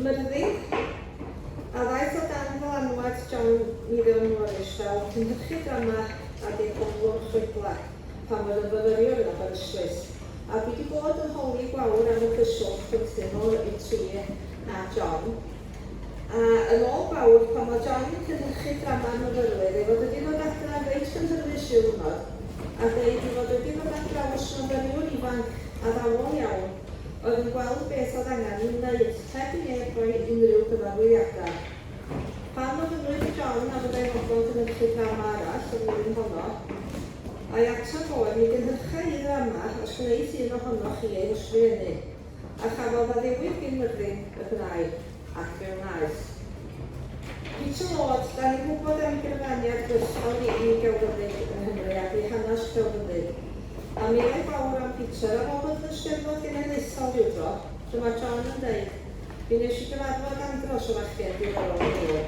Myrddu, a ddaeth o dan ddylanwad John Mirion Morris fel cynhyrchydd drama a dyn ymlwr chwedlau pan oedd yn fyfyriwr yn Aberystwyth, a dwi 'di bod yn holi gwawr am y cyswllt rhyngthyn nhw, y tri, a John. A yn ôl gwawr, pan oedd John yn cynhyrchu drama'r myfyrwyr, ei fod wedi dod adra reit gynhyrfus ryw ddwrnod a deud ei fod wedi dod adra os myfyriwr ifanc addawol iawn, oedd yn gweld beth oedd angen ei wneud heb i neb roi unrhyw gyfarwyddiadau. Pan ofynnwyd i John a fyddai'n fodlon cynhyrchu drama arall y flwyddyn honno, a'i ateb oedd, Mi gynhyrcha i ddrama os wneith un ohonoch chi ei hysgrifennu, a chafodd addewidd gyn Myrddin y gwnaed. ac fe wnaeth. Hyd yn oed, da ni'n gwybod am gyfraniad gweithgor i i gelfyddyd yng Nghymru ac i hanes celfyddyd. A miloedd fawr am Peter a Robert yn Steddfod Genedlaethol rywdro, dyma John yn deud, Mi wnes i gyfarfod andros o fachgen diddorol yn Dulo.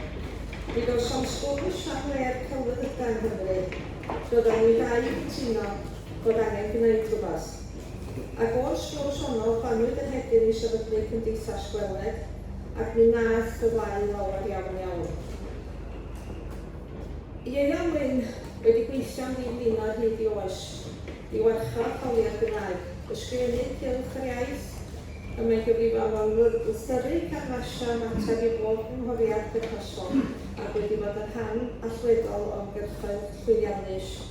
Mi gawsom sgwrs am le'r celfyddydau yng Nghymru. Doeddan ni ddau yn cytuno bod angen gwneud rhywbeth. Ar ôl sgwrs honno, rhannwyd yr hedyn i sefydlu Cymdeithas Gweled, ac mi wnaeth gyfleu lawer iawn iawn. Ieuan Wyn wedi gweithio am ddi flinoedd hyd i oes, i warchod hawliau'r Gymraeg, ysgrifennu cylch yr iaith, y mae'n gyfrifol am ymgysylltu, canfasio ymateb i bob cynghoriad perthnasol, ac wedi bod yn rhan allweddol o ymgyrchoedd llwyddiannus.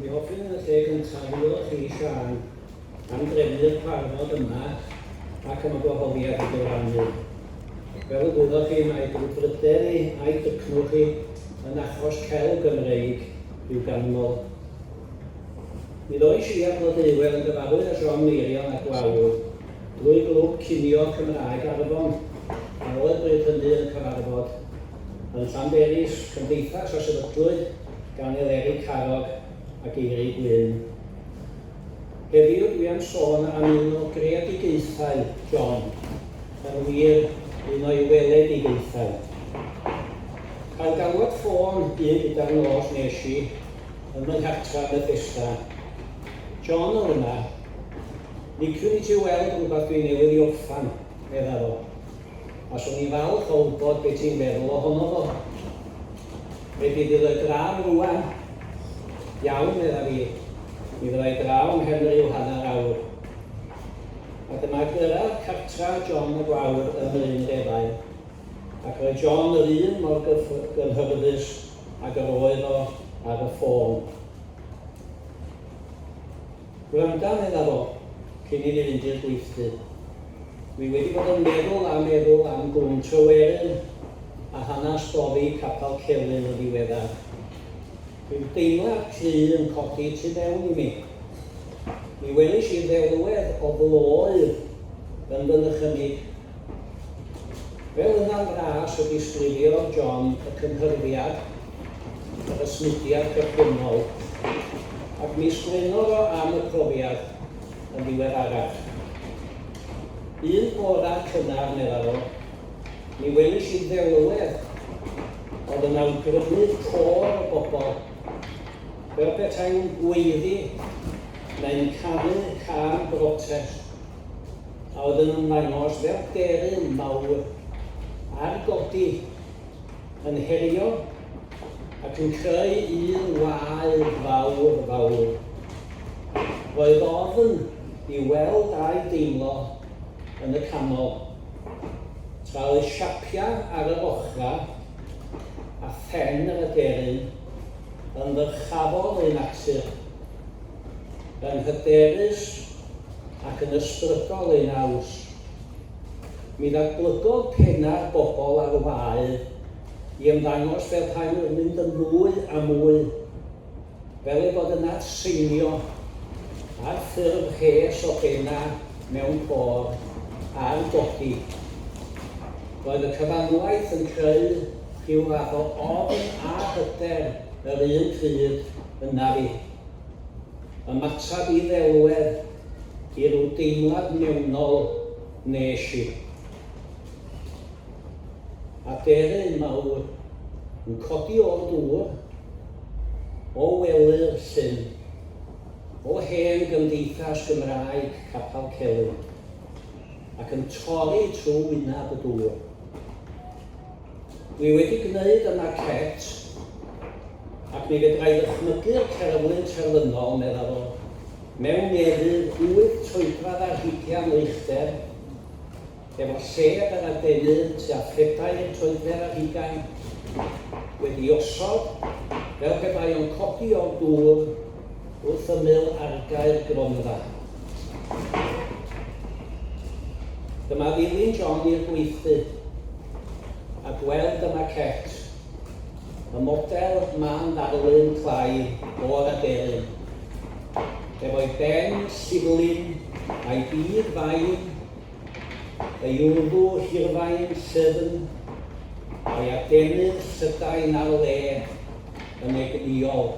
Mi hoffwn yn y lle gyntaf ddiolch i Siân am drefnu'r cyfarfod yma ac am y gwahoddiad i gyfrannu. Fel y gwyddoch chi, mae brwdfrydedd i a'i dycnwch chi yn achos celf Gymreig i'w ganmol. Nid oes i a Blodeuwedd yn gyfarwydd â siom Meirion a Gwawr drwy glwb cinio Cymraeg Arfon, a oedd bryd hynny yn cyfarfod yn Llanberis, Cymdeithas a Sefydlwyd gan Eleri Carrog a Geiri Gwyn. Heddiw dwi am sôn am un o greadigaethau John, yn wir, un o'i weledigaethau. Cael galwad ffôn un gyda'r nos nes i ym fy nghartra yn Bethesda. John oedd yna. Liciwn i ti weld rhywbeth dwi newydd i orffan, meddaf o. a swn i'n falch o wybod be ti'n meddwl ohono fo. Be di fydd y gradd rwan? Iawn, medda fi. Mi fyddai draw yn nghefn ryw hanner awr. A dyma gyrraedd cartra John y Gwawr ym Mryn Defain. Ac roedd John yr un mor gynhyfyddus ag yr oedd o ar y ffôn. Gwranda, medda fo, cyn i ni fynd i'r gweithdy. Dwi wedi bod yn meddwl a meddwl am Glwm Tryweryn a hanas boddi Capal Celyn yn ddiweddar. Rhyw deimlad cry yn codi tu fewn i mi. Mi welish i ddelwedd o floedd yn fy nychymyg. Fel yna'n fras y disgrifiodd John y cynhyrfiad y Smudiad Derbynnol, ac mi sgwennodd o am y profiad yn ddiweddarach. Un bore cynnar, meddai o, mi welish i ddelwedd oedd yn awgrymu côr o bobl, fel petai'n gweiddi neu'n canu can brotest, a oedd yn ymddangos fel deryn mawr ar godi yn herio ac yn creu un wae fawr, fawr. Roedd ofn i weld a'i deimlo yn y canol, tra oedd siapiau ar yr ochrau a phen yr aderyn yn ddyrchafol eu natur, yn hyderus ac yn ysbrydol eu naws. Mi ddatblygodd pennau'r bobl ar wae i ymddangos fel rhain oedd mynd yn fwy a mwy fel ei bod yn atseinio ar ffurf rhes o bena mewn côr ar godi. Roedd y cyfanwaith yn creu rhyw fath o ofn a hyder yr un pryd, yna fi. Ymateb i ddelwedd. i ryw deimlad mewnol wnes i. Aderyn mawr yn codi o'r dŵr, o wely'r llyn, o hen gymdeithas Gymraeg Capal Celyn, ac yn torri trwy wyneb y dŵr. Dwi wedi gwneud y maquette, ac mi fedra i ddychmygu'r cerflun terfynol, meddaf o. mewn merydd hwyr troedradd ar hugian milltir, efo lled yr adenydd tua phedair troedfedd ar hugain, wedi'i osod fel pe bai o'n codi o'r dŵr wrth ymyl argae'r gronfa. Dyma ddilyn John i'r gweithdy, a gweld y maquette. Y model ma'n ddarlun clai o'r aderyn, efo'i ben sirlin a'i bur fain, ei wddw hirfaen syrn, a'i adenydd llydain ar le yn egnïol.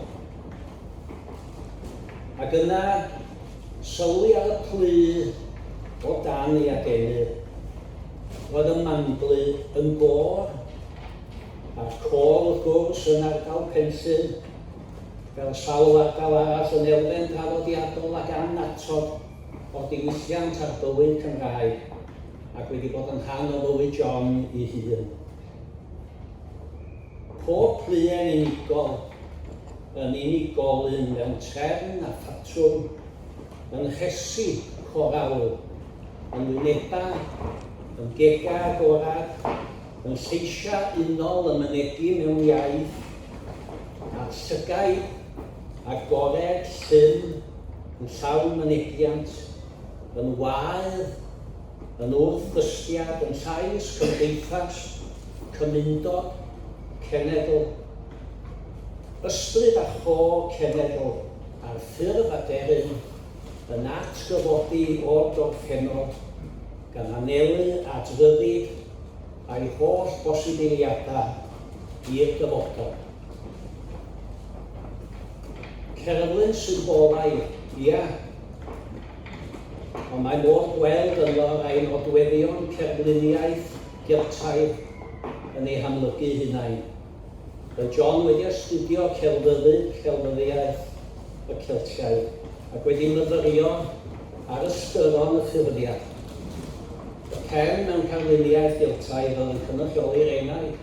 Ac yna, sylwi ar y plu o dan ei adenydd. Roedd y manglu yn gor. at ôl y cwrs yn ardal Penllyn, fel sawl ardal arall yn elfen draddodiadol ac annatod o'r diwylliant a'r bywyd Cymraeg, ac wedi bod yn rhan o fywyd John ei hun. Pob pluen unigol yn unigolyn mewn trefn a phatrwm, yn rhesi corawl, yn wynebau, yn gegau agored, Mewn lleisiau unol y mynegi mewn iaith, a'r llygaid agored llym yn llawn mynegiant, yn waedd, yn wrth-ddystiad, yn llais cymdeithas, cymundod, cenedl, ysbryd a cho cenedl, ar ffurf aderyn, yn atgyfodi o'r gorffennol, gan anelu at ryddid a'i holl bosibiliadau i'r dyfodol. Cerflun symbolaidd, ia? Ond mae modd gweld ynddo rai nodweddion cerfluniaeth Geltaidd yn eu hamlygu'u hunain. Mae John wedi astudio Celfyddyd, Celfyddyddiaeth y Celtiaid ac wedi myfyrio ar ystyron y ffurfiau y pen mewn carluniaeth Geltaidd oedd yn cynrychioli'r Enaid,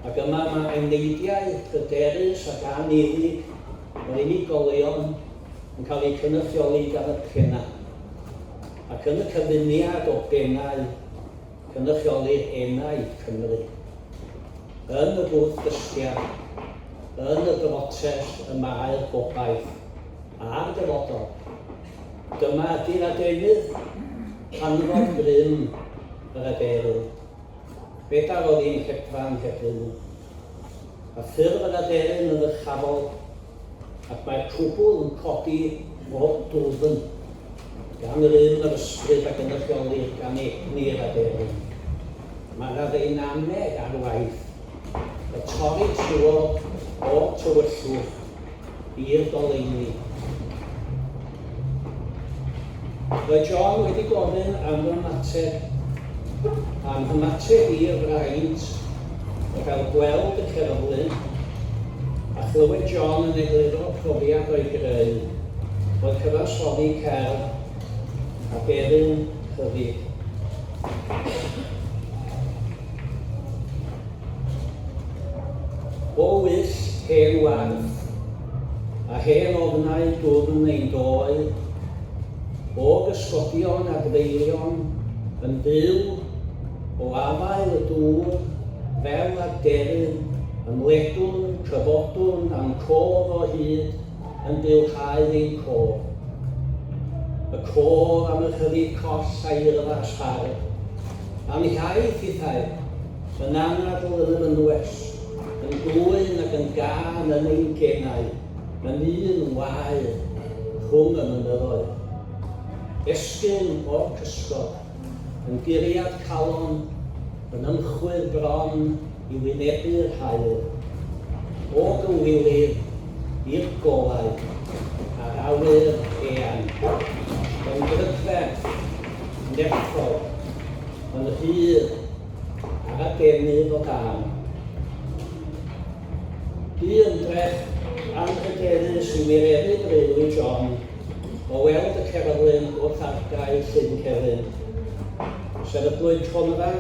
ac yma mae eneidiau hyderus ac anifyg yr unigolion yn cael eu cynrychioli gan y pennau, ac yn y cyfuniad o bennau. Cynrychiolir Enaid Cymru yn y bwrdd dystia yn y brotest y mae'r gobaith a'r dyfodol. Dyma ydy'r adenydd canfod grym yr aderyn. Bedair oedd un hedfan heb ryw. a ffurf yr aderyn yn ddyrchafol, ac mae'r cwbl yn codi o dwfn, gan yr un yr ysbryd a gynrychiolir gan egni'r aderyn. Mae'r addeinaneg ar waith, y torri trwodd o'r tywyllwch, i'r goleuni. Mae John wedi gofyn am fy ymateb, am fy ymateb i'r fraint o gael gweld y cerflun a chlywed John yn egluro profiad o'i greu, o cyfansoddi cerdd a deryn rhyddid. O wyll hen warth, a hen ofnau dwfn ein doe, o gysgodion a gfeilion yn byw, o afael y dŵr, fel aderyn, ymledwn, cyfodwn, a'm cof o hyd yn bylhau ein cof. Y cof am y rhyddid coll a'i yrfas hardd, a'm hiaith hithau, Yn anadl yn yr ynwes, yn glwyn ac yn gân yn ein genau, yn un wae rhwng y mynyddoedd. Esgyrn o'r cysgod, yn guriad calon, yn ymchwydd bron i wynebu'r haul. O gywilydd i'r golau, ar awyr eang, yn brydferth nerthol, yn rhydd ar adenydd o dan. Bu ymdrech anrhydeddus i wireddu breuddwyd John o weld y cerflun wrth argae Llyn Celyn. Sefydlwyd Cronfa,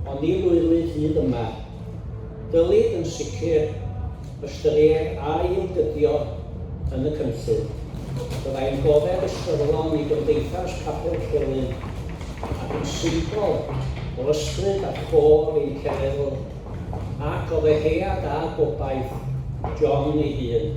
ond ni lwyddwyd hyd yma. Dylid yn sicr ystyried a'i ymdybio yn y cynllun. Byddai'n goddef ystyrlon i Gymdeithas Papur Celyn ac yn symbol o ysbryd a chôr ein cenedl ac o ddeheuad a gobaith John ei hun.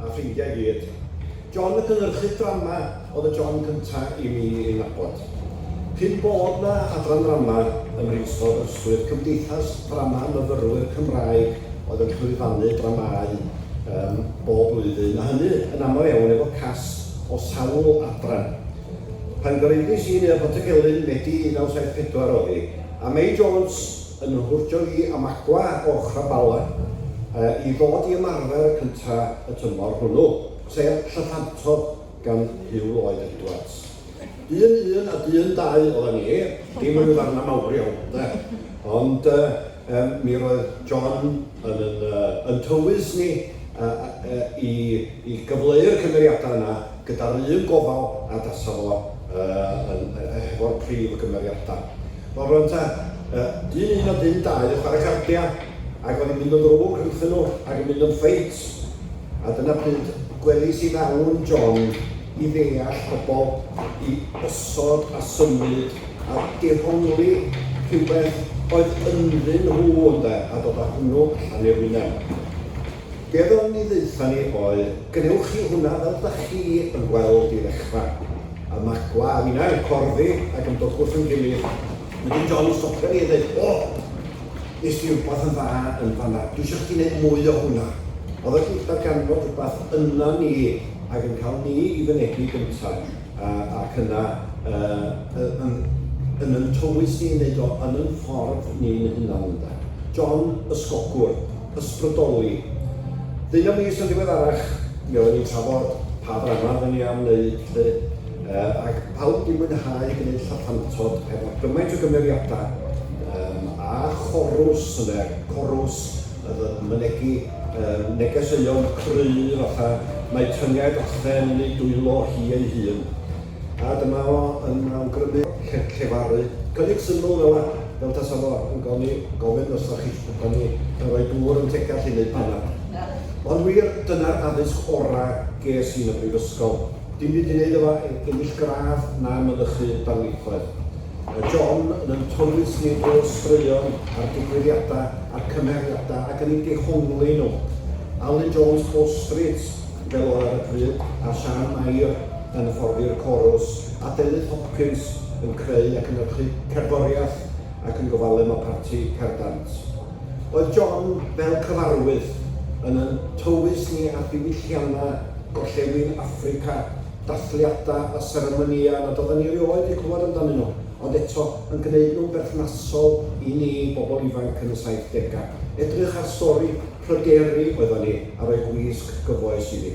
a ffrindiau i gyd. John y cynhyrchydd drama oedd y John cynta i mi ei nabod. Cyn bod 'na adran ddrama ym Mhrifysgol Aberystwyth, Cymdeithas Ddrama Myfyrwyr Cymraeg oedd yn llwyfannu dramâu um, bob blwyddyn, a hynny yn aml iawn efo cast o sawl adran. Pan gyhoeddus i Neuadd Pontygelyn, Medi 1974 oedd hi, a May Jones, yn fy hwrtio i am agua o'ch abalau i ddod i ymarfer y cynta y tymor hwnnw, sef Llyffantod gan Huw Lloyd Edwards. Dyn un a dyn dau oddan ni, dim ryw ddarna mawr iawn 'de, ond yy mi roedd John yn yn yy yn tywys ni yy yy i i gyfleu'r cymeriada yna gyda'r un gofal a dasa fo yy yn yy hefo'r prif gymeriada. Wel rwan ta, yy, dyn un a dyn dau yn chwarae carcia, ac o'n i'n mynd yn ddrwg rhyngthyn nhw ac yn mynd yn ffeit, a dyna pryd gwelis i ddawn yn John i ddeall pobl i osod a symud a dehongli rhywbeth oedd ynddyn nhw, ynde, a dod a hwnnw allan i'r wyneb. Be oedd o'n i ddaetha ni oedd, gwnewch chi hwnna fel dach chi yn gweld i ddechra. A magwla a finna yn corddi ac yn dod wrth ein gilydd. Wedyn John yn stopio ni a deud, O! Nes di rwbath yn dda yn fanna. Dwi isio chdi neud mwy o hwnna. Oedd o di darganfod rwbath yna ni ac yn cael ni i fynegi gynta a ac yna yy yn yn yn tywys ni yn neud o yn yn ffordd ni'n hunan ynde? John, ysgogwr. ysbrydoli. Ddeunaw mis yn ddiweddarach, mi oedden ni'n trafod pa ddrama oedden ni am wneud 'lly, yy ac pawb wedi mwynhau gwneud Lladpantod efo gymaint o gymeriadau yym a chorws ynde, corws oedd yn mynegi yy negeseuon cry' fatha 'mae tynged Athen yn ei dwylo hi ei hun'. A dyma fo yn awgrymu llef- llefaru. Cynnig syml fel 'a, fel tasa fo yn goni- gofyn os 'da chi isio bo ni yn rhoi dŵr yn teg gallu neud panad. Ond wir, dyna'r addysg ora ges i yn y brifysgol. Dim byd i neud efo e- ennill gradd na mynychu darlithoedd. Mae John yn yn tywys ni drwy'r straeon a'r digwyddiada a'r cymhariada ac yn ein dehongli nhw. Alun Jones Bow Street fel oedd ar y pryd, a Siân Mair, yn hyfforddi'r corws, a Delyth Hopkins yn creu a cynyrchu cerddoriaeth ac yn gofalu am y parti perdant. Oedd John, fel cyfarwydd, yn ein tywys ni â diwylliannau Gorllewin Affrica, dathliadau a seremonïau nad oedden ni erioed eu clywed amdanyn nhw, ond eto yn gwneud nhw'n berthnasol i ni, bobl ifanc yn y saithdegau. Edrych ar stori. Pryderi oeddwn i, a rhoi gwisg gyfoes i fi.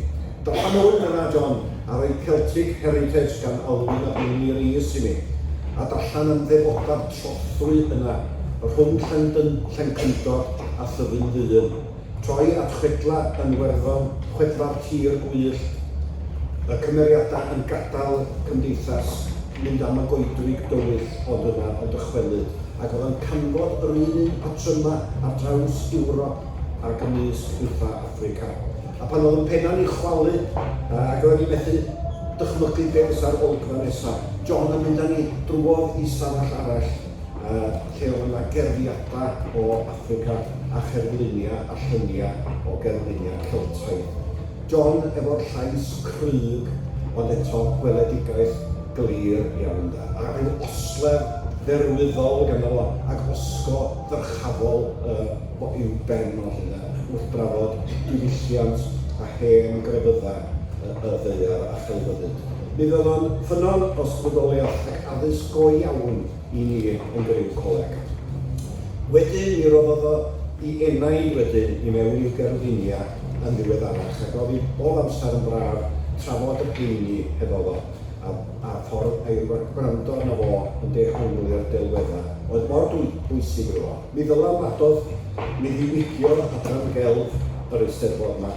Dylanwyd yna John, a rhoi Celtic Heritage gan Alwyn a Beini Rees i mi. A darllen am ddefoda'r trothwy yna, rhwng Llendyn, Llencyndod a Thyddyn Ddyn. Troi at chwedla yn Iwerddon, chwedla'r tir gwyllt, y cymeriadau yn gadael y cymdeithas, mynd am y goedwig dywyll ond yna yn dychwelyd. ac oedd yn canfod yr un un patrymau ar draws Ewrop a'r gymysg uwchaf Affrica. A pan oedd yn penna'n ei chwalu, ac roedd ni methu dychmygu beth fysa'r olygfa nesaf. John yn mynd â ni drwodd i stafell arall, lle oedd yna gerddiadau o Affrica a cherfluniau a lluniau o gerfluniau Celtaidd. John efo'r llais cryg ond eto gweledigaeth glir iawn ynde, a ryw osledd dderwyddol ganddo fo ag osgo ddyrchafol yy fo i'w ben o 'lly ynde, wrth drafod diwylliant a hen grefyddau y y ddaear a chelfyddyd. Mi fydd o'n ffynnon os fudoliaeth ac addysg go iawn i ni yn griw coleg. Wedyn mi roddodd o 'i enaid wedyn i mewn i'w gerflunia yn ddiweddarach ac oedd hi bob amser yn braf trafod y rheini hefo fo a a'r ffordd a'i wrando arno fo yn dehongli a'r delweddau oedd mor bwysig iddo fo. Mi ddylem addodd mi ddiwygio adran gelf yr Eisteddfod 'ma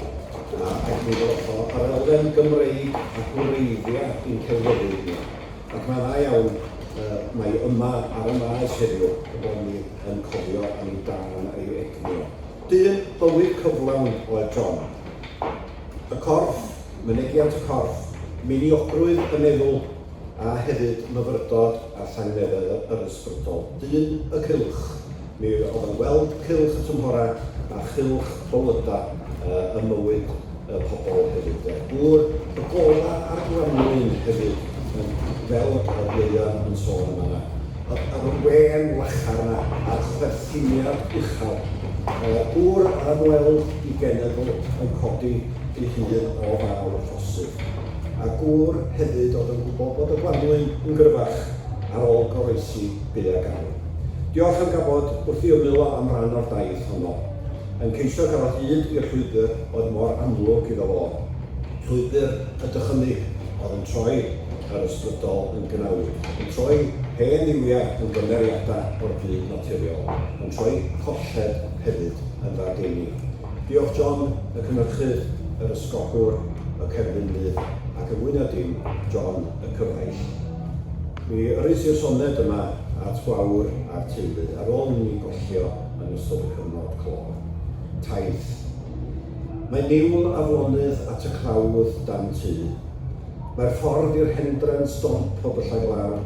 a ac mi ddoth o yr elfen Gymreig a gwreiddia' i'n celfyddyd ni ac mae'n dda iawn yy mae yma ar y Maes heddiw bod ni yn cofio am ei dân a'i egni o. Dyn bywyd cyflawn oedd John. Y corff, mynegiant y corff, meiniogrwydd y meddwl, a hefyd myfyrdod a llangnefedd yr ysbrydol. Dyn y cylch. Mi oedd o'n gweld cylch y tymhorau a chylch bywydau ym mywyd y pobl hefyd de. Gŵr y gola a'r gwanwyn hefyd yn fel yr Ieuan yn sôn yn fanna. Yr yr wên lachar yna a'r chwerthiniad uchel. Yy gŵr yr ymweld i genedl yn codi ei hun o fawr y ffosydd. A gŵr hefyd oedd yn gwybod bod y gwanwyn yn gryfach ar ôl goroesi byd a gael. Diolch am gafod wrth i ymyl o am ran o'r daith honno. yn ceisio cael hyd i'r llwybr oedd mor amlwg iddo fo, llwybr y dychymyg oedd yn troi yr ysbrydol yn gnawn, yn troi hen dduwiau yn gymeriadau o'r byd naturiol, yn troi colled hefyd yn ddadeni. Diolch John, y cynyrchydd, yr ysgogwr, y cerflunydd, ac yn fwy na dim, John y cyfaill. Mi yrrys i'r soned yma at Gwawr a'r teulu, ar ôl inni gollio yn ystod y cyfnod clo. Taith. Mae niwl aflonydd at y clawdd dan tŷ. Mae'r ffordd i'r hendren stomp o byllau glaw.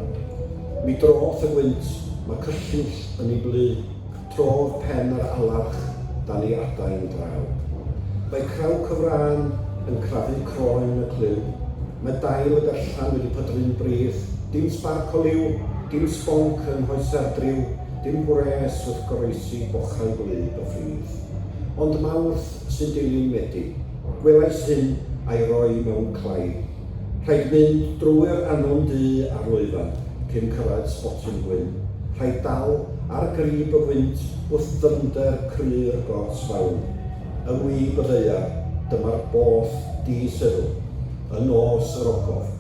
Mi droth y gwynt, mae cyllyll yn ei blu, trodd pen yr alarch dan ei adain draw. Mae crawc y frân yn crafu croen y clyw. Mae dail y berllan wedi pydru'n brith. Dim sbarc o liw, dim sbonc yng nghoesau'r driw. Dim gwres wrth goroesi bochau gwlyb y ffridd, ond Mawrth sy'n dilyn Medi. Gwelais hyn a'i roi mewn clai. Rhaid mynd drwy'r anon du ar lwyfan cyn cyrraedd sbotyn gwyn. Rhaid dal ar grib y gwynt wrth ddyfnder cru'r gors fawn. Yn wib y ddaear, dyma'r boll di-seddw. Y nos yr ogof.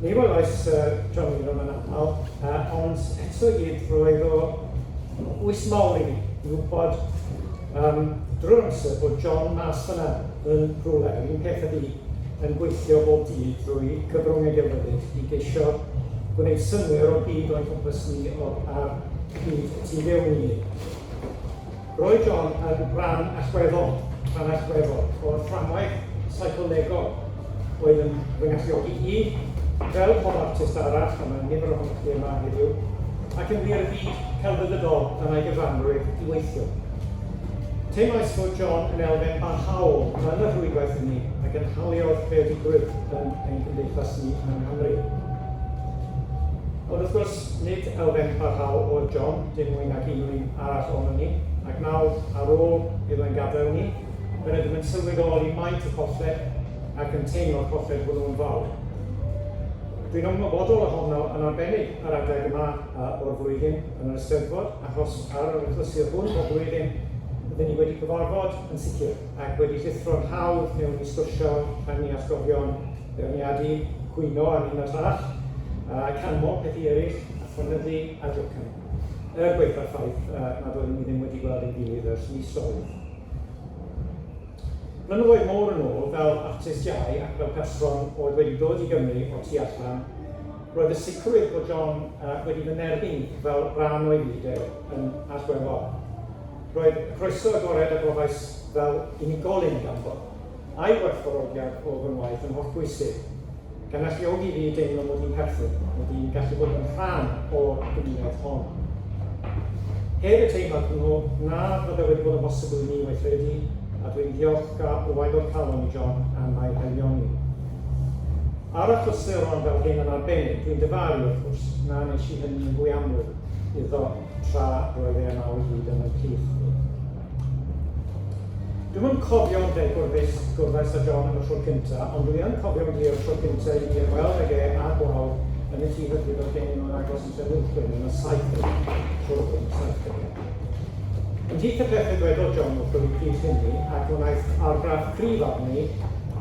Ni welais Syr John Wyndham yn aml, uh, ond eto i gyd roedd o bwys mawr i mi i wybod um, drwy'r amser bod John mas fyna yn rhywle, yr un peth ydi, yn gweithio bob dydd drwy cyfrwng ei gelfyddyd i geisio gwneud synwyr o'r byd o'n cwmpas ni o'r ar byd y tu fewn i ni. Roedd John yn ran allweddol, rhan allweddol, o'r fframwaith seicolegol oedd yn fy ngalluogi i, fel pob artist arall, a mae nifer ohonoch chi yma heddiw, ac yn wir y byd celfyddydol a mae gyfanrwydd i weithio. Teimlais fod John yn elfen barhaol yn y rhwydwaith hynny a gynhaliodd creadigrwydd yn ein cymdeithas ni yng Nghymru. Ond wrth gwrs, Nid elfen parhaol oedd John, dim mwy nag un o un arall ohonon ni, ac nawr, ar ôl iddo ein gadael ni, fe rydym yn sylweddoli maint y colled ac yn teimlo'r colled hwnnw'n fawr. Dwi'n ymwybodol ohono yn arbennig ar adeg yma o'r flwyddyn yn yr Eisteddfod, achos ar yr achlysur hwn bob blwyddyn, rydyn ni wedi cyfarfod yn sicr. ac wedi llithro'n hawdd mewn i sgwrsio am ei atgofion, beirniadu, cwyno am un o'r llall, a canmol pethau eraill, a ffynyddu a jocan. Er gwaetha'r ffaith nad oeddwn i ddim wedi gweld ein gilydd ers misoedd. Blynyddoedd mor yn ôl, fel artist iau ac fel person oedd wedi dod i Gymru o tu allan, roedd y sicrwydd bod John wedi fy nerbyn i fel rhan o'i fyd e yn allweddol. Roedd croeso agored a gofais fel unigolyn ganddo, a'i werthfawrogiad o fy ngwaith yn hollbwysig, gan alluogi i fi deimlo mod i'n perthyn, mod i'n gallu bod yn rhan o'r gymuned hon. Heb y teimlad hwnnw, na fyddai wedi bod yn bosibl i mi weithredu, a dwi'n ddiolchgar o agor calon i John am ei haelioni. Ar achlysuron fel hyn yn arbennig, dwi'n dyfaru, wrth gwrs, na wnes i hynny'n fwy amlwg iddo. tra roedd e yma o hyd yn y plith. Dwi'm yn cofio'n degwr beth gwrddais â John am y tro cynta, ond dwi yn cofio'n glir y tro cynta i mi ymweld ag e a Gwawr yn y tŷ hybrid oedd gen i mewn agos yn Trefilchwyn yn y 70, tro yn y 70. Ymhlith y pethau dwedodd John wrth y pryd hynny, ac wnaeth argraff cryf arni,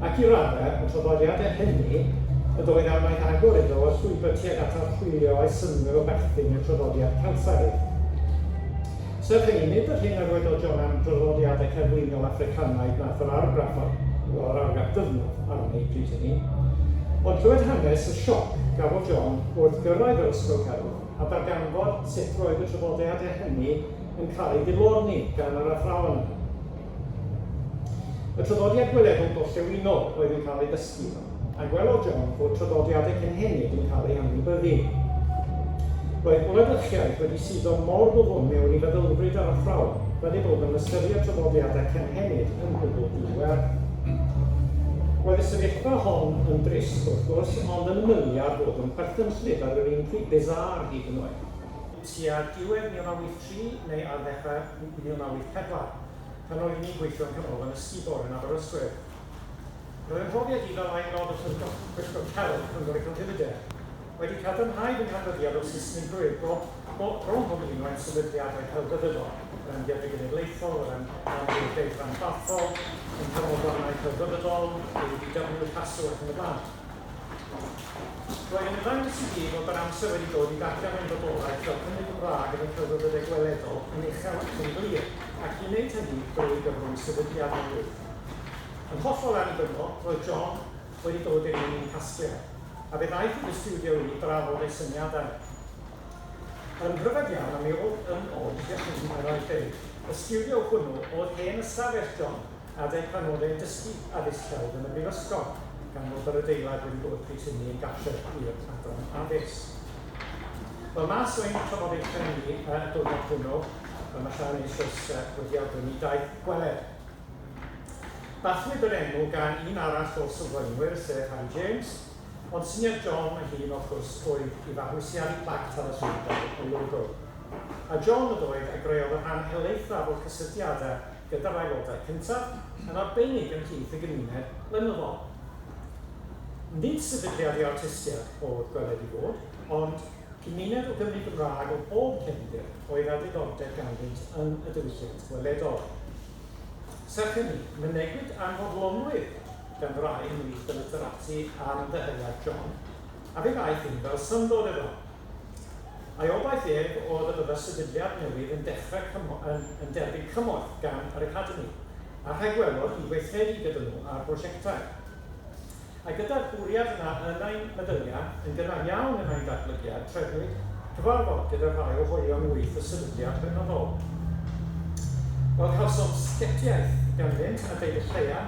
Ac i raddau, y traddodiadau hynny y doedd amaeth agor iddo o llwybr tuag at archwilio a'i synnwyr o berthyn i'r traddodiad Celtaidd. Serch hynny, nid yr hyn a ddweud o John am draddodiadau cerfluniol Affricanaidd wnaeth yr argraff ar, wel, yr argraff ddyfnaf arni pryd hynny, ond clywed hanes y sioc gafodd John wrth gyrraedd yr ysgol celf a darganfod sut roedd y traddodiadau hynny yn cael eu dilorni gan yr athrawon yna. Y traddodiad gweledol gorllewinol oedd yn cael ei dysgu iddo, a gwelodd John fod traddodiadau cynhenid yn cael eu hanwybyddu. Roedd gwladwriaeth wedi suddo mor ddwfn mewn i feddylfryd yr athrawon fel eu bod nhw'n ystyried traddodiadau cynhenid yn gwbl di-werth. Roedd y sefyllfa hon yn drist, wrth gwrs, ond yn ymylu ar fod yn chwerthinllyd ar yr un pryd bizarre hyd yn oed. Tua diwedd 1983 neu ar ddechrau 1984, pan oeddwn i'n gweithio yng Nghanolfan y Sibor yn Aberystwyth, roedd 'y mhrofiad i fel Aelod o Llyfrgell Pwyllgor Celf Cyngor y Celfyddydau wedi cadarnhau fy nghadfyddiad o Saesnigrwydd go iawn bron pob un o ein sefydliadau celfyddydol, yr Amgueddfa Genedlaethol, yr Amgueddfeydd Rhanbarthol, ein Canolfannau Celfyddydol, ABW, Llastw ac yn y blaen. Roedd yn ymddangos i mi fod yr amser wedi dod i ddarllen ein bodolaeth fel Cymry Gymraeg yn y celfyddydau gweledol yn uchel ac yn glir, ac i wneud hynny drwy gyfrwng sefydliad newydd. Yn hollol annibynnol, roedd John wedi dod i'r un i'n casgliad, a fe ddaeth i fy stiwdio i i drafod ei syniadau. Yn rhyfedd iawn, a mi oedd yn od i ddychmygu pan oedd Dave, y stiwdio hwnnw oedd hen ystafell John! Adeg Adnoddau Dysgu Addysg Celf yn y Brifysgol, gan fod yr adeilad wedi bod pryd hynny yn gartref i'r Adran Addysg. Wel, mas o ein trafodaethau ni y diwrnod hwnnw, fel mae Sian eisoes wedi awgrymu, daeth gweled. Bathiwyd yr enw gan un arall o'r sylfaenwyr, sef Harry James, ond syniad John ei hun, wrth gwrs, oedd i fabwysiadu plac talyswydol y logo. A John ydoedd a greodd y rhan helaethaf o'r cysylltiadau gyda'r aelodau cyntaf, yn arbennig ymhlith y gymuned lenyddol. Nid sefydliad i artistiaid oedd Gweled i Fod, ond cymuned o Gymry Gymraeg o bob cefndir oedd â diddordeb ganddynt yn y diwylliant weledol. Serch hynny, mynegwyd anfodlonrwydd gan rai ymhlith y litherati am ddyheadau John, a fe ddaeth hyn fel syndod iddo. Ei obaith ef oedd y byddai'r sefydliad newydd yn dechrau cymo yn yn derbyn cymorth gan yr Academi, a rhagwelodd hi weithredu gyda nhw ar brosiectau. A gyda'r bwriad yna yn ein meddyliau, yn gynnar iawn yn ein datblygiad, trefnwyd cyfarfod gyda rhai o hoelion wyth y sefydliad beunydol. Fel cawsom sgetiaeth ganddynt a deud y lleia,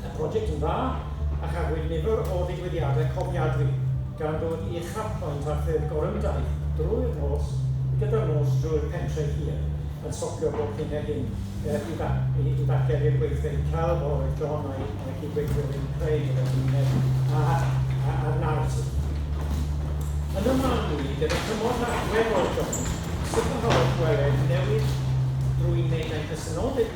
y prosiect yn dda a chafwyd nifer o ddigwyddiadau cofiadwy, gan ddod i uchafbwynt ar ffurf gorymdaith drwy'r nos gyda'r nos drwy'r pentre hir yn stopio bob hyn a hyn i ddarllen i'r gweithfeydd celf a oedd John a'i cyd-weithiwr yn eu creu gyda'r gymuned a'r naratif. Yn fy marn i, gyda chymorth allweddol John, sicrhaodd gweled newid drwy wneud ein presenoldeb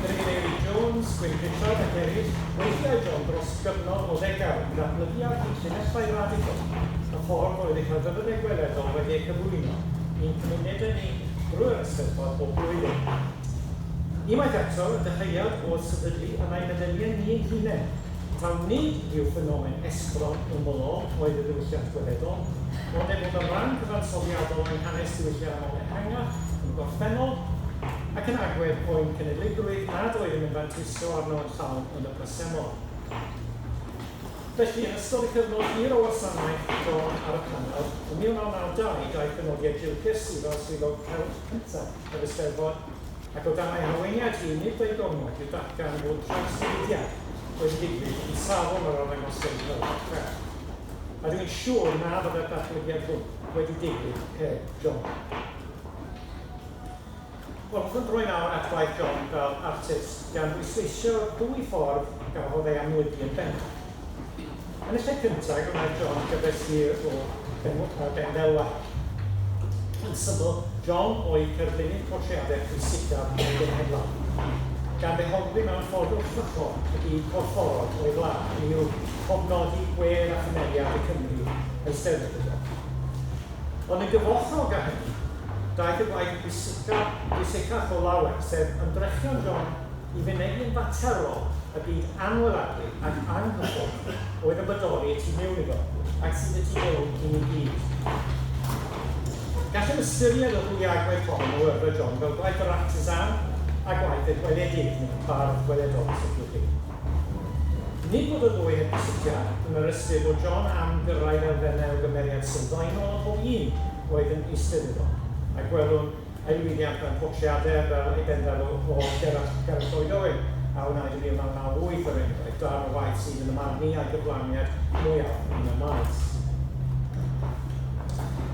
Yr Eifeiri Jones, Gwyn Pritchard ac eraill, weithiau John dros gyfnod o ddegawd yn datblygu ar hyd llinellau radical y ffordd oedd eu celfyddydau gweledol wedi eu cyflwyno i'n cymunedau ni drwy'r Eisteddfod bob blwyddyn. Unwaith eto, y dyhead oedd sefydlu yn ein addeniau ni ein hunain, taw nid rhyw ffenomen estron ymylol oedd y ddiwylliant gweledol, ond ei fod yn ran cyfansoddiadol o'n hanes diwylliannol ehangach yn gorffennol, ac yn agwedd poen cenedligrwydd nad oeddem yn fanteiso arno yn llawn yn y presennol. Felly, yn ystod y cyfnod hir o wasanaeth John ar y Panel, ym 1992 daeth y nodiad Gilchrist i fel Swyddog Cewch cyntaf yr Eisteddfod, ac o dan ei harweiniad hi, nid â'i gormod i'w datgan fod trawsnewidiad wedi digwydd yn safon yr arddangosfeydd Helfa Crefft, a dw i'n siŵr na fyddai'r datblygiad hwn wedi digwydd heb John. Hoffwn droi nawr at waith John fel artist, gan bwysleisio dwy ffordd y gafodd ei amlygu yn bendant. Yn y lle cyntaf, gwnaeth John gyfres hir o bendelwau. Yn syml, John oedd cerflunydd portreadau pwysicaf y genhedlaeth, gan ddehongli mewn ffordd wrthrychol y byd corfforol o'i wlad, hynny yw, cofnodi gwedd a chymeriad y Cymry eisteddfodol. Ond yn gyfoethog â hynny, daeth y gwaith pwysica, pwysicach o lawer, sef ymdrechion John i fynegi'n faterol y byd anweladwy ac anghydfodol oedd yn bodoli y tu mewn iddo, ac sydd y tu mewn i ni gyd. Gallem ystyried y ddwy agwedd hon o oeuvre John fel gwaith yr artisan a gwaith y gweledydd, neu y bardd gweledol, os liciwch chi. Nid bod y ddwy heb gysylltiad, yn yr ystyr bod John am gyrraedd elfennau o gymeriad sylfaenol a phob un oedd yn eistedd iddo, a gwelwn ei lwyddiant mewn portreadau fel ei bendaf o Gerallt Lloyd Owen a wnaed yn 1998, er enghraifft, darn o waith sydd, yn y marn i, â'i gyflawniad mwyaf yn y maes.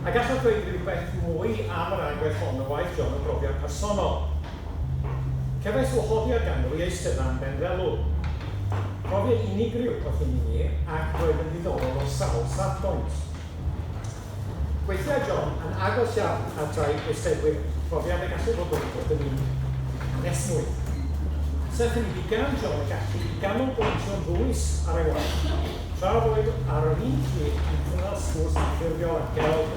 A gallaf ddweud rywbeth mwy am yr agwedd hon o waith John o brofiad personol? Cefais wahoddiad ganddo i eisteddau am Benfelo. Profiad unigryw oedd hyn i mi ac roedd yn ddiddorol o sawl safbwynt. Gweithiai John yn agos iawn at rai eisteddwyr, profiad y gallai fod wedi bod yn un anesmwyth. Serch hynny, bu gan John y gallu i ganolbwyntio'n ddwys ar ei waith, tra roedd ar yr un pryd yn cynnal sgwrs anffurfiol â Gerald.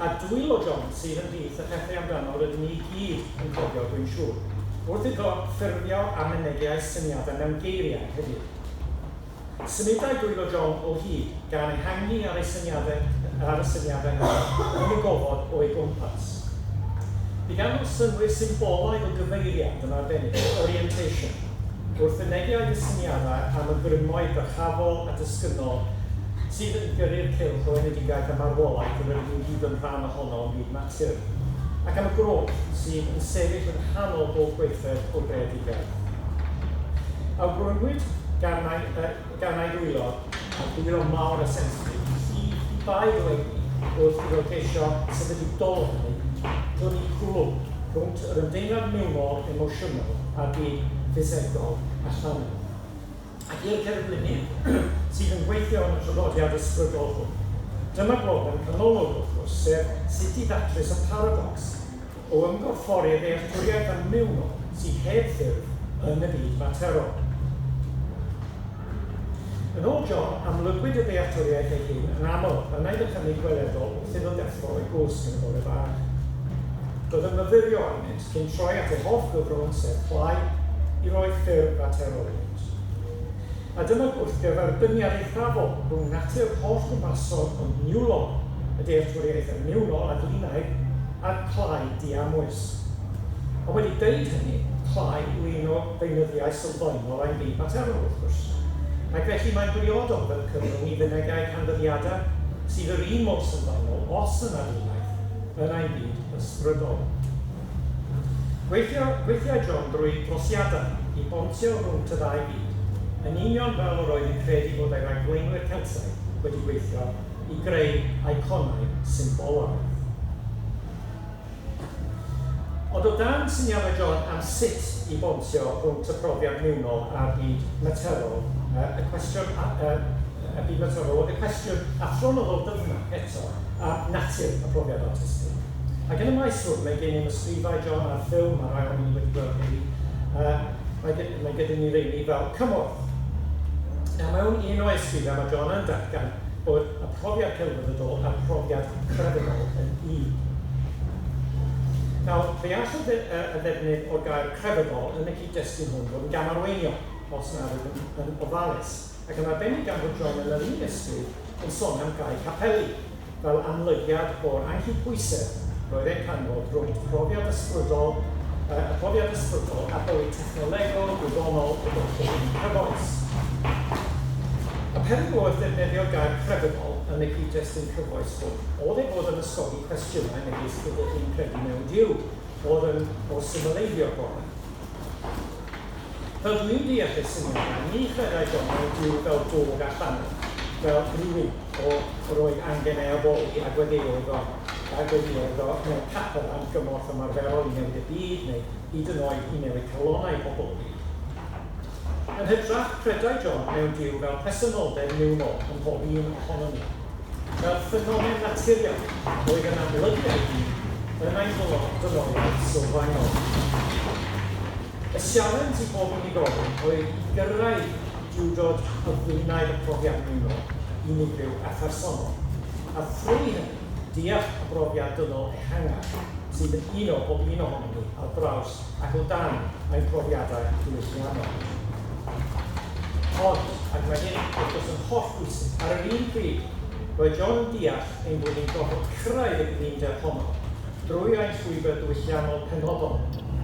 a dwylo John sydd ymhlith y pethau amdano rydyn ni i gyd yn cofio, dwi'n siŵr, wrth iddo ffurfio a mynegi a'i syniadau mewn geiriau heddiw. Symudai dwylo John o hyd, gan ehangu ar ei syniadau, ar y syniadau hynny, yn y gofod o'i gwmpas. Bu gan nhw synnwyr symbolaidd o gyfeiriad yn arbennig, orientation, wrth fynegi a'i dysyniadau am y grymoedd dyrchafol a dysgynnol sydd yn gyrru'r cylch o enedigaeth a marwolaeth yr ydym i gyd yn rhan ohono yn byd natur, ac am y groch sydd yn sefyll yng nghanol bob gweithred o greadigaeth. Awgrymwyd gan ai, uh, gan ai ddwylo, a dwylo mawr a sensitif, i bai eleni wrth iddo geisio sefydlu dol hynny, dynnu cwlwm rhwnt yr ymdeimlad mewnol, emosiynol, a'r byd ffisegol a llawn. ac i'r cerflunydd sydd yn gweithio yn y traddodiad ysbrydol hwn. Dyma broblem canolog, wrth gwrs, sef sut i ddatrys y paradocs o ymgorffori ddealltwriaeth anmewnol sydd heb ffurf yn y byd materol. Yn ôl John, amlygwyd y ddealltwriaeth ei hun yn aml, a wnaed y cynnig gweledol wrth iddo ddeffro o'i gwsg yn y bore fach. Doedd yn myfyrio arnynt. sy'n troi at ei hoff gyfrwng sef Play i roi ffurf at Heroiwms. A dyma gwrthgyferbyniad eithafol rhwng natur hollbwrpasol ond niwlog y dealltwriaeth yn niwnol a dwynaidd a'r Play diamwys. Ond wedi deud hynny, Play yw un o feunyddiau sylfaenol ein byd materol, wrth gwrs, ac felly mae'n briodol fel cyfrwng i fynegai canfyddiadau sydd yr un mor sylfaenol, os yna dwynaidd, yn ei fyd ysbrydol. Gweithio, gweithiai John drwy drosiadau i bontio rhwnt y ddau fyd, yn union fel yr oedd yn credu bod ei ragflaenwyr Celtaidd wedi gweithio i greu eiconau symbolaidd. Ond o dan syniadau John am sut i bontio rhwnt y profiad mewnol a'r byd materol, y cwestiwn, y byd materol, oedd y cwestiwn athronyddol dyfnach eto. a natur y profiad artistig. Ac yn y maes hwn, mae gennym ysgrifau, John, a'r ffilm, mae rhai ohonyn ni wedi gweld hynny, uh, mae, gen, mae gyda ni reini fel cymorth. A mewn un o'i ysgrifau mae John yn datgan bod y profiad celfyddydol a'r profiad crefyddol yn un. Nawr, fe all y, dde, y ddefnydd o'r gair crefyddol yn y cyd-destun hwn fod yn gamarweiniol, os nad yw'n yn ofalus. ac yn arbennig gan fod John yn yr un ysbryd yn sôn am gau capeli fel amlygiad o'r anghydbwysedd roedd e'n canfod rhwng profiad ysbrydol, yy, y profiad ysbrydol a bywyd technolegol, gwyddonol y gellid eu cyfoes. Y peryg o wrth ddefnyddio gair crefyddol yn y cyd-destun cyfoes hwn oedd ei fod yn ysgogi cwestiynau megis ydych chi'n credu mewn Duw, oedd yn o symleiddio'r gorau. Rydw i'n deall y syniad yna, ni chredai Donald Duw fel bod a thanwn fel rhywun o roedd angen ei addoli a gweddïoedd o a gweddïoedd o mewn capel am gymorth ymarferol i newid y byd neu hyd yn oed i newid calonau pobl y byd. Yn hytrach, credai John mewn Duw fel presenoldeb niwnol ym mhob un ohonom ni. Fel ffenomen naturiol oedd yn amlygu ei hun yn ein hylod ddynoliaeth sylfaenol. Y sialens i bob unigolyn oedd i gyrraedd duwdod a fwynau y profiad ymuno, unigryw a phersonol, a thrwy hynny, deall y brofiad dynol ehangach sydd yn uno pob un ohonom ni ar draws ac o dan ein profiadau diwylliannol. Ond, ac mae hyn, wrth gwrs, yn hollbwysig, ar yr un pryd, roedd John yn deall ein bod ni'n gorfod cyrraedd y gyfundeb honno, drwy ein llwybr diwylliannol penodol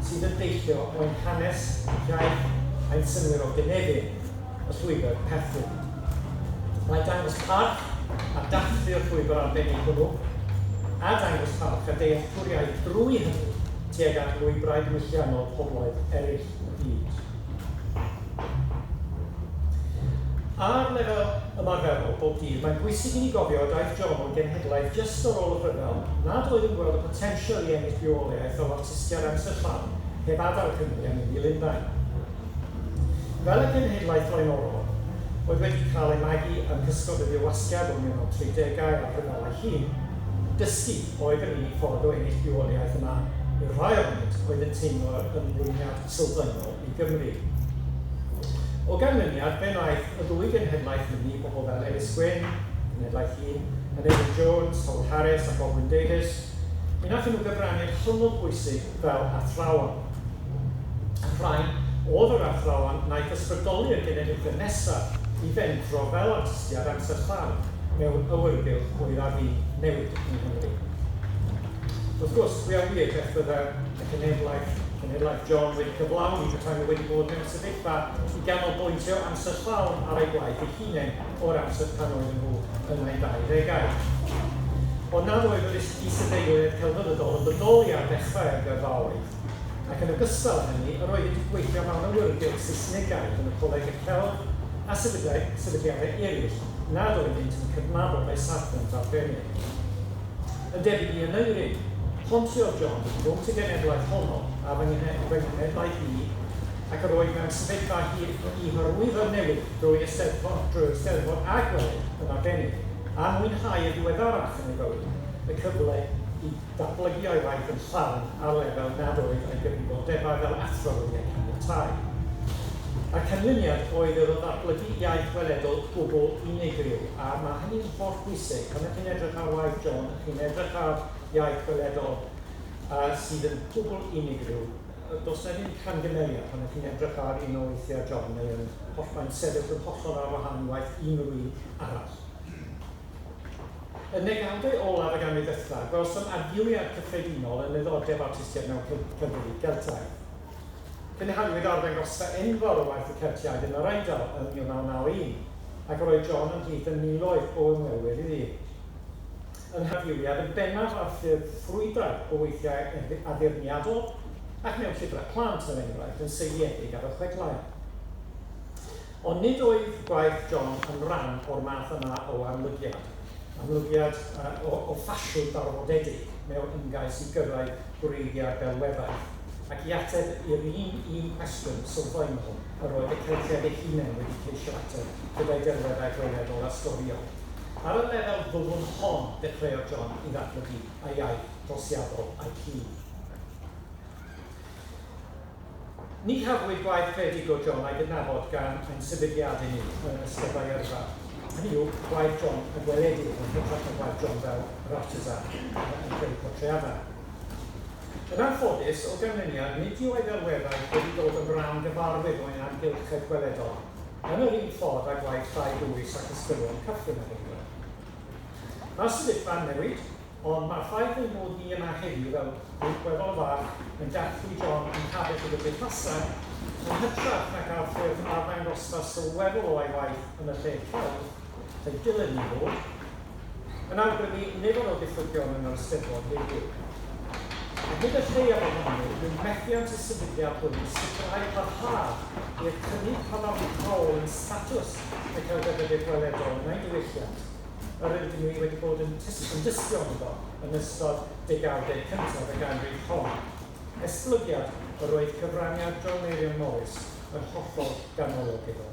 sydd yn deillio o ein hanes, ein hiaith a'n synnwyr o gynefin, y llwybr perthyn. Mae dangos parch a dathlu y llwybr arbennig hwnnw, a dangos parch a dealltwriaeth drwy hynny tuag at lwybrau diwylliannol pobloedd eraill. Ar lefel ymarferol, bob dydd, mae'n bwysig i ni gofio y daeth John o'n genhedlaeth jyst ar ôl y rhyfel nad oedd yn gweld y potensial i ennill rheolaeth fel artistiad amser llawn heb adael Cymru a mynd i Lundain fel y cenhedlaeth flaenorol oedd wedi cael ei magu yng nghysgod y Dirwasgiad o'r 1930au a'r rhyfel ei hun. Dysgu. Oedd yr unig ffordd o ennill rheoliaeth yma i'r rhai a wnaed oedd yn teimlo yr ymrwymiad sylfaenol i Gymru. O ganlyniad, fe wnaeth y ddwy genhedlaeth fyny, pobl fel Elis Gwyn, Cenhedlaeth Hŷn, Aneurin Jones, Howard Harris a Baldwin Davies, mi wnaethon nhw gyfrannu'n hynod bwysig fel athrawon. Rhai oedd yr athrawon wnaeth ysbrydoli y genedlaethau nesaf i fentro fel artistiaid amser llawn mewn awyrgylch oedd ar fin newid yng Nghymru. Wrth gwrs, pwy a ŵyr beth fydde y cenedlaeth, cenedlaeth John, wedi cyflawni petai nhw wedi bod mewn sefyllfa i ganolbwyntio amser llawn ar eu gwaith eu hunain o'r amser pan oedden nhw yn eu 20au. Ond nad oedd yr is-deiliaid celfyddydol yn bodoli ar ddechrau'r gyrfaoedd. ac yn ogystal â hynny, yr oedd wedi gweithio fel awyrgylch Saesnigaidd yn y Coleg i'r Celf a sefydliadau eraill nad oeddynt yn cydnabod ei safbwynt ar Feneg. Yn debyg i Aneurin, pontiodd John rhwnt y genhedlaeth honno a fy nghenhedlaeth i, ac yr oedd mewn sefyllfa i hyrwyddo'r newid drwy Eisteddfod a gwedd yn arbennig, a mwynhau y diweddarach yn ei fywyd, y cyfle i Datblygu a'i waith yn llawn ar lefel nad oedd â'i gyfrifoldebau fel athro wedi eu caniatáu. Y canlyniad oedd iddo ddatblygu iaith weledol gwbl unigryw, a mae hynny'n holl bwysig, pan ydych chi'n edrych ar waith John, ydych chi'n edrych ar iaith weledol yy sydd yn gwbl unigryw. Yy does 'na ddim camgymeriad pan ydych chi'n edrych ar un o weithiau John, mae o'n hollbai'n sefyll yn hollol ar wahân i waith unrhyw un arall. Yn ddegawdau olaf y ganrif ddechrau, gwelsom adfywiad cyffredinol yn nyddordeb awtistiaeth mewn Celtiaid Geltaidd. Cynhaliwyd arddangosfa enfawr o waith y Celtiaid yn yr Eidal ym 1991, ac yr oedd John ymhlith y miloedd o ymwelwyr iddi. Yng nghyfrifiad yn bennaf ar ffurf ffrwydrad o weithiau addurniadol ac mewn llyfrau plant, er enghraifft, yn seiliedig ar y chwedlau. Ond nid oedd gwaith John yn rhan o'r math yma o amlygiad, amlygiad o o ffasiwn darwodedig mewn ymgais i gyrraedd gwreiddiau delweddau, ac i ateb i'r un un cwestiwn sylfaenol yr oedd y Celtiaid eu hunain wedi ceisio ateb gyda'i delweddau gweledol a storïol. Ar y lefel ddwfn hon dechreuodd John i ddatblygu ei iaith drosiadol a'i hun. Ni chafwyd gwaith credyd o John a'i gydnabod gan ein sefydliad i ni yn Ysgol Bae Yrfa, hynny yw, gwaith John yn gweledig, yn hytrach na gwaith John fel yr artisan yn creu portreadau. Yn anffodus, o ganlyniad, nid yw ei ddelweddau wedi dod yn ran gyfarwydd o ein amgylchedd gweledol yn yr un ffordd â gwaith Llai Dwys ac Ysgolion Cychwyn a Heidwell. Mae'r sefyllfa'n newid. ond mae'r ffaith ein bod ni yma heddiw fel gweddol fach yn dathlu John yn Cardiff y Gymdeithasau, yn hytrach na gael ffurf arddangosfa sylweddol o a'i waith yn y lle celf y dylid ni fod, yn awgrymu nifer o ddiffygion yn yr Eisteddfod heddiw. Ar hyd y lleiaf ohonyn nhw, bydd methiant y sefydliad hwn i sicrhau parhad i'r cynnydd cadarnhaol yn statws y Celfyddydwyr Gweledol yn ein diwylliant, yr rydyn ni wedi bod yn dystio ynddo yn ystod degawdau cyntaf y ganrif hon, esblygiad yr oedd cyfraniad John Meirion Morris yn hollol ganolog iddo.